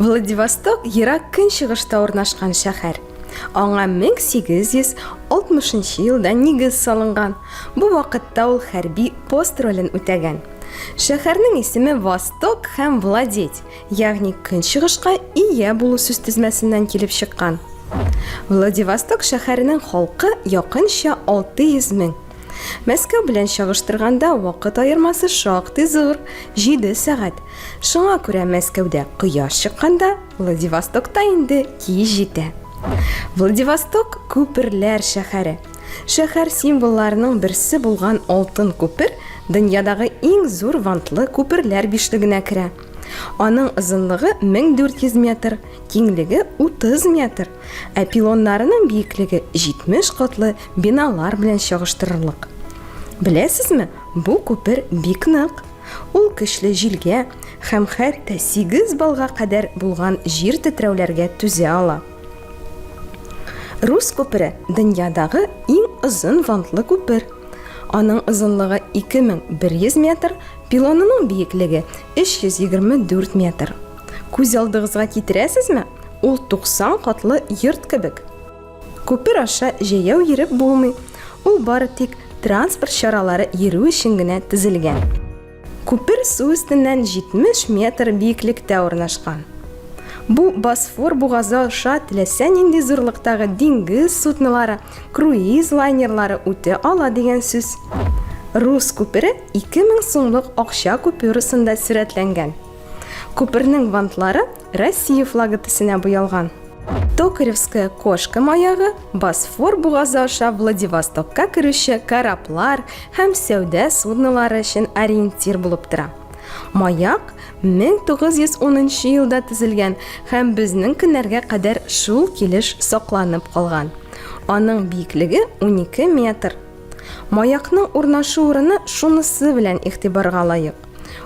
Владивосток ерак көнчыгышта урнашкан шәһәр. Аңа 1860 елда нигез салынган. Бу вакытта ул хәрби пост ролен үтәгән. Шәһәрнең исеме Восток һәм Владеть, Ягъни көнчыгышка ия булу сүз тезмәсеннән килеп чыккан. Владивосток шәһәренең халкы якынча 600 мең. Мәскәү белән чагыштырганда вакыт аермасы шактый зур, 7 сәгать. Шуңа күрә Мәскәүдә кояш чыкканда, Владивостокта инде кич җитә. Владивосток күперләр шәһәре. Шәһәр символларының берсе булган алтын күпер дөньядагы иң зур вантлы күперләр бишлегенә керә. Аның озынлыгы 1400 метр, киңлеге 30 метр, ә пилоннарының биеклеге 70 катлы биналар белән чагыштырырлык. Беләсезме, бу күпер бик нык. Ул көчле җилгә һәм хәтта 8 балга кадәр булган җир тетрәүләргә түзә ала. Рус күпере дөньядагы иң озын вантлы күпер. Аның озынлыгы 2100 метр, Пилонының биеклеге 324 метр. Күз алдыгызга китерәсезме? Ул 90 катлы йорт кебек. Күпер аша җәяү йөреп булмый, ул бары тик транспорт чаралары йөрү өчен генә төзелгән. Күпер су өстеннән 70 метр биеклектә урнашкан. Бу Босфор бугазы аша теләсә нинди зурлыктагы диңгез суднолары Круиз лайнерлары үтә ала дигән сүз. Рус күпере 2000 сумлык акча купюрасында сурәтләнгән. Күпернең вантлары Россия флагы төсенә буялган. Токаревская кошка маягы Босфор бугазы аша Владивостокка керүче кораблар һәм сәүдә суднолары өчен ориентир булып тора. Маяк 1910 елда төзелгән һәм безнең көннәргә кадәр шул килеш сакланып калган. Аның биеклеге 12 метр. Маякның урнашу урыны шунысы белән игътибарга лаек.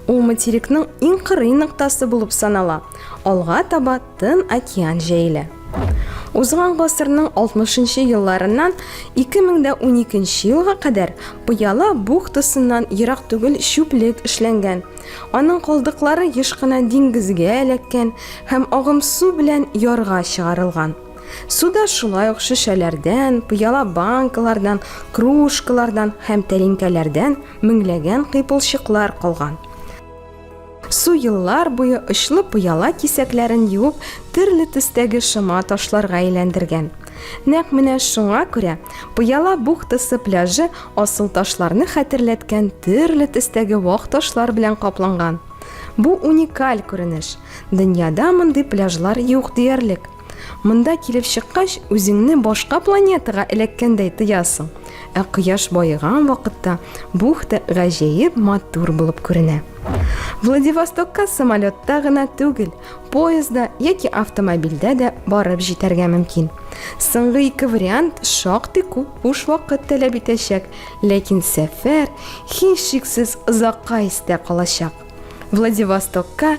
Ул материкның иң кырый ноктасы булып санала. Алга таба Тын океан җәелә. Узган гасырның 60 нчы елларыннан 2012 нче елга кадәр Пыяла бухтасыннан ерак түгел чүплек эшләнгән. Аның калдыклары еш кына диңгезгә эләккән һәм агым су белән ярга чыгарылган. Суда шулай ук шешәләрдән, пыяла банкалардан, кружкалардан һәм тәлинкәләрдән меңләгән кыйпылчыклар калган. Су еллар буе очлы пыяла кисәкләрен юып, төрле төстәге шома ташларга әйләндергән. Нәкъ менә шуңа күрә пыяла бухтасы пляжы асыл ташларны хәтерләткән төрле төстәге вак ташлар белән капланган. Бу уникаль күренеш. Дөньяда мондый пляжлар юк диярлек. Монда килеп чыккач, үзеңне башка планетага эләккәндәй тоясың. Ә кояш баеган вакытта бухта гаҗәеп матур булып күренә. Владивостокка самолетта гына түгел, поезда яки автомобильдә дә барып җитәргә мөмкин. Соңгы ике вариант шактый күп буш вакыт таләп итәчәк, ләкин сәфәр һичшиксез озакка истә калачак. Владивостокка